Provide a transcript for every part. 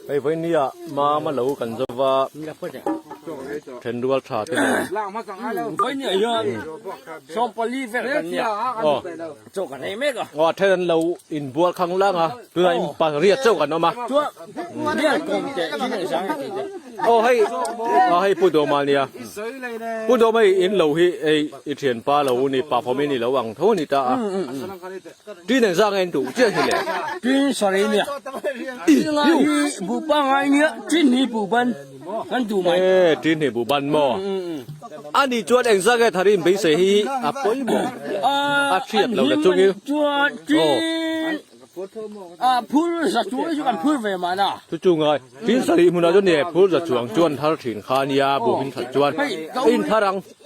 Hei vawinia mam a lo kan zau va, then rual tha te nen. Vawinia hian sawm pali vel kan nia. Aw. Chaw kan nei mek a. Aw, then an lo inbual khang lang a, tunah in pariat chaw kan awm a. Chuan rial kawng te in an zang a tih te. Aw hei, aw hei Pu Dawma nia. Pu Dawma hi in lo hi ei i thianpa lo u ni, pafawm i ni lo ang tho a ni ta a. Tui nen zanga en duh chiah hi le. Tui sarei nia. Tui nga hi bu pa ngai nia. Tui hni bu ban kan duh mai. E tui hni bu ban maw. Ani chuan eng zanga thar in beisei hi a pawimawh a thiap lo le chungil. Chuan tui a phur zachu chu kan phur ve mah na. Chu chu ngai. Tui sarei hmunah chuan ni e phur zachu ang chuan thar thin kha nia bu hming that chuan a in thar ang.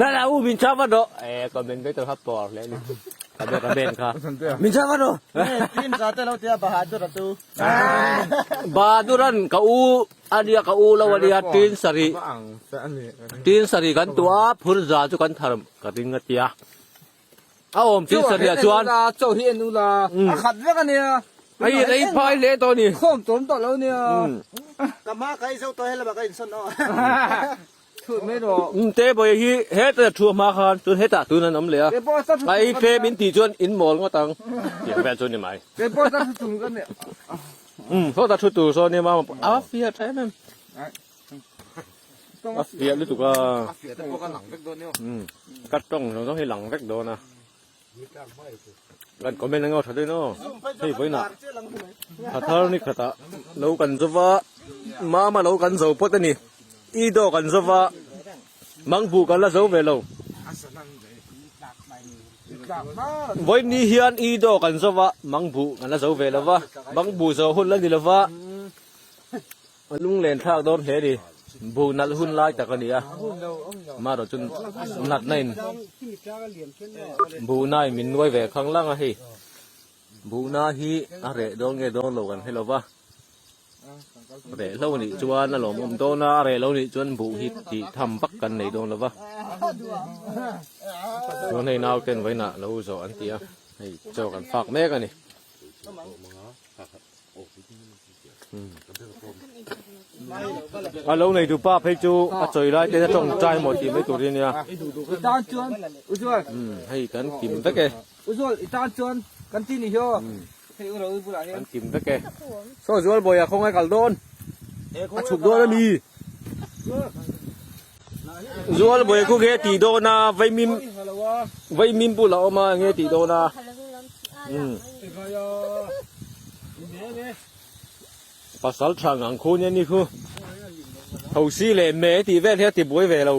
Na la u min chau va do. E comment ve tur hap po hle ni. Ka be ka ben kha. Min chau va do. Team za te lo tia bahadur atu. Bahaduran ka u ania ka u lo ania tin sari. Tin sari kan tu a phur za chu kan thar ka ring a tia. A om tin sari a chuan. Chau hi enu la. A khat vek ania. Ai rei phai le to ni. Khawm tawm tawh lo nia. Ka ma ka i zo to he lama ka in sawn o. Te bawih hi hetah thu hma khan chuan hetah tun an awm leh a, a i fem in tih chuan in mawl ngawt ang tih vel chu ni mai. Sawtah thu tur sawn emaw a fiah tha em em, a fiah lutuk a, ka tawng zawng zawng hi lang vek dawn a. kan comment anga tha dawn aw hei vawiin ah tha thar ni khata lo kan zo va mama lo kan zo pawt ani i do kan zo va mang bu kan la zo ve lo vawiin ni hian i do kan zo va mang bu kan la zo ve lo va mang bu zo hun la ni lo va A lung len thlak dawr hle ni, bu nalh hun lai tak a ni a, mah rawh chun natna in bu nai min nuai ve khang lang a hei, bu na hi a reh dawr nge dawr lo kan hre lo va, reh hlo nih chuan a lawmawm dawn a, a reh lo nih chuan bu hi ti tham vak kan nei dawn lo va, chuan hei nau ten vawiin ah lo zawh an ti a, hei chaw kan fak mek a ni. alo nei du pa phei chu a chawi lai te tawng chai maw tih mai tur hi nia i tan chuan u zual hei kan kim vek e u zual i tan chuan kan ti ni hiaw hei u roi bulah hian kan kim vek e saw zual bawia khawngai kal dawn a chhuk dawn a mi Zual bawih khu nghe tih dawn a, vaimim vaimim pula awm a nghe tih dawn a. Hmm. Pasal thang ang khu nia ni khu. Ho si le me ti vel he ti buai ve lo.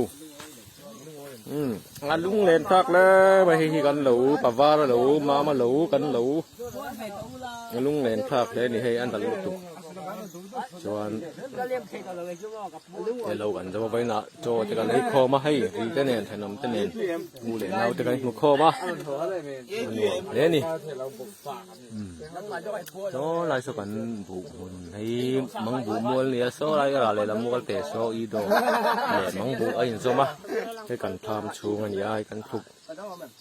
Hmm. A lung len tak le ma hi hi kan lo pavar lo mama lo kan lo. A lung len tak le ni hei an dal lutuk. chuan he lo kan zam avai na chaw te kan ei khawm a hei ri te nen thenawm te nen bu leh nau te kan hmu khawm a nuam hle ni chaw lai saw kan bu hun hei mang bu mual ni a saw lai erawh lehlam mual te saw i dawh leh mang bu a inzawm a hei kan tham chhung a ni a hei kan thluk